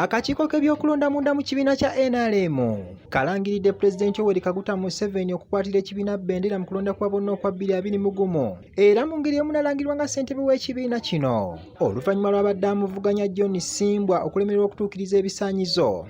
Akakiiko k'ebyokulonda munda mu kibiina kya NRM kalangiridde Pulezidenti Yoweri Kaguta Museveni okukwatira ekibiina bendera mu kulonda kwa bonna okwa bbiri abiri mu gumu era mu ngeri emu nalangirwa nga ssentebe w'ekibiina kino oluvannyuma lw'abadde amuvuganya John Simbwa okulemererwa okutuukiriza ebisaanyizo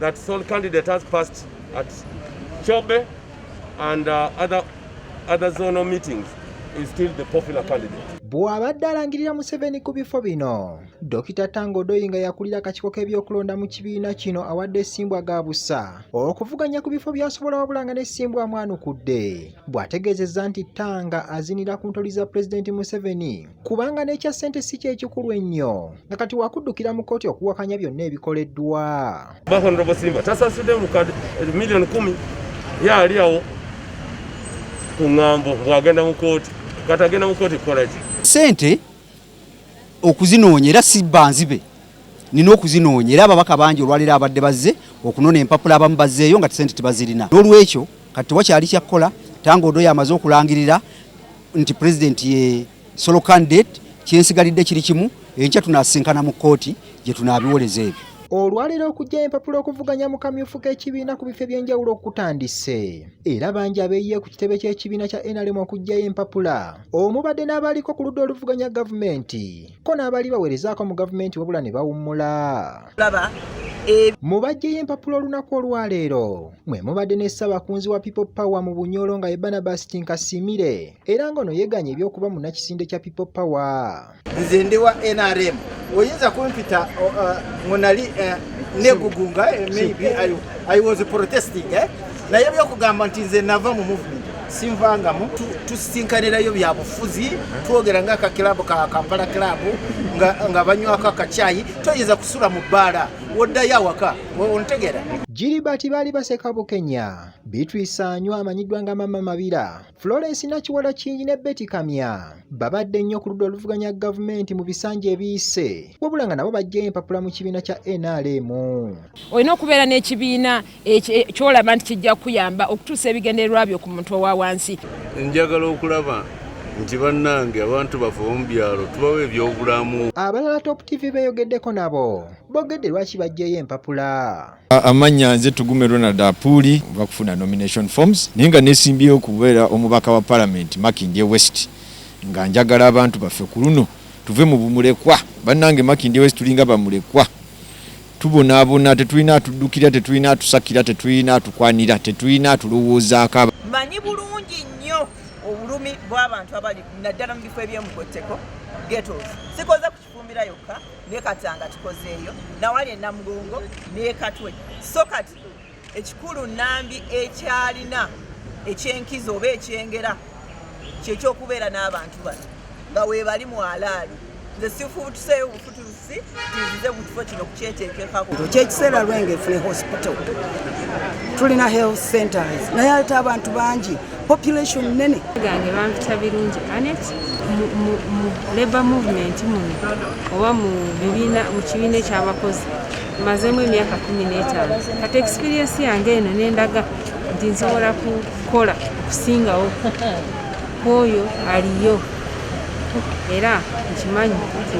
that sole candidate has passed at Chobe and uh, other, other zonal meetings is still the popular candidate. Bw'abadde alangirira Museveni ku bifo bino, Dokita Tango Odoi nga yakulira akakiiko k'ebyokulonda mu kibiina kino awadde Ssimbwa ga busa okuvuganya ku bifo by'asobola wabula nga ne Ssimbwa amwanukudde bw'ategeezezza nti Tanga azinira ku ntoli za Pulezidenti Museveni kubanga n'ekya ssente si kyekikulu ennyo nga kati wakuddukira mu kkooti okuwakanya byonna ebikoleddwa bahonorobsimba tasasudde lukad miliyoni kumi ye ali awo ku ŋŋambo bwagenda mu kkooti kati agenda mu kkooti kukola ki ssente okuzinoonya era si banzibe nina okuzinoonya era ababaka bangi olwaleero abadde bazze okunona empapula abamu bazzeeyo nga ssente tebazirina n'olwekyo kati tewakyali kyakkola tangaodoyo amaze okulangirira nti pulezidenti ye solo candidate kyensigalidde kiri kimu enkya tunasinkana mu kkooti gye tunaabiwoleza ebyo olwaleero okujja empapula okuvuganya mu kamyufu k'ekibiina ku bifo eby'enjawulo okutandise era bangi abeeyiye ku kitebe ky'ekibiina kya nrm okujjayo empapula omubadde n'abaaliko ku ludda oluvuganya gavumenti ko n'abaali baweerezaako mu gavumenti wabula ne bawummula e- mu bajjeyo empapula olunaku olwaleero mwe mubadde ne ssabakunzi wa people power mu bunyolo nga ye barnabas tinkasimire era ng'ono yeganye ebyokuba munnakisinde kya people power nze ndi wa nrm oyinza kumpita ngo nali eh, negugunga eh, maybe I, i was protesting eh? naye byokugamba nti nze nava mu movement sinvangamu tusisinkanirayo byabufuzi twogera nga akakilabu ka kampala kilabu nga banywako akakyayi toyinza kusula mu bbaala woddayo awaka ontegera Gilbert baali baseka bukenya Beatrice Anywa amanyiddwa nga Mama Mabira Florence Nakiwala Kingi ne Betty Kamya babadde nnyo ku ludda oluvuganya gavumenti mu bisanja ebiyise wabula nga nabo bajjayo empapula mu kibiina kya NRM olina okubeera n'ekibiina kyolaba nti kijja kuyamba okutuusa ebigendererwa byo ku muntu owa wansi njagala okulaba nti bannange abantu baffe omu byalo tubawo ebyobulamu abalala top tv beyogeddeko nabo bogedde lwaki bajjeyo empapula amannya nze tugume ronald apuuli va kufuna nomination forms naye nga nesimbyeyo okubeera omubaka wa palamenti makindye west nga njagala abantu baffe ku luno tuve mu bumulekwa bannange makindye west tulinga bamulekwa tubonaabona tetulina atuddukira tetulina atusakira tetulina atukwanira tetulina atulowoozaako manyi bulungi nnyo obulumi bw'abantu abali naddala mu bifo ebyemugotteko getos sikoze ku kifumbira yokka nekatanga kikozeeyo nawali enamugongo nekatwe so kati Ekikulu Nambi ekyalina ekyenkizo oba ekyengera kyekyokubeera n'abantu bano nga webali mwalaali nze sifutuseeyo obufutusi tinzize mu kifo kino kukyeteekekako kyekiseera lwenge fune hospital tulina health centers naye ate abantu bangi population nene gange bampita birungi anet mu labor movement muno oba mu kibiina ekyabakozi mazemu emyaka kumi n'etaano kati experience yange eno nendaga nti nsobola kukola okusingawo kwoyo aliyo era nkimanyi nti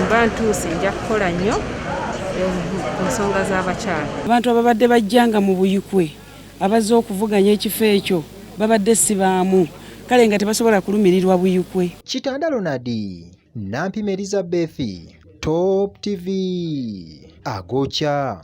mba ntuuse nja kukola nnyo ku nsonga z'abakyala abantu ababadde bajjanga mu buyikwe abazze okuvuganya ekifo ekyo babadde sibaamu kale nga tebasobola kulumirirwa buyikwe kitanda lonadi Nampima Elizabeth, Top TV, Agocha.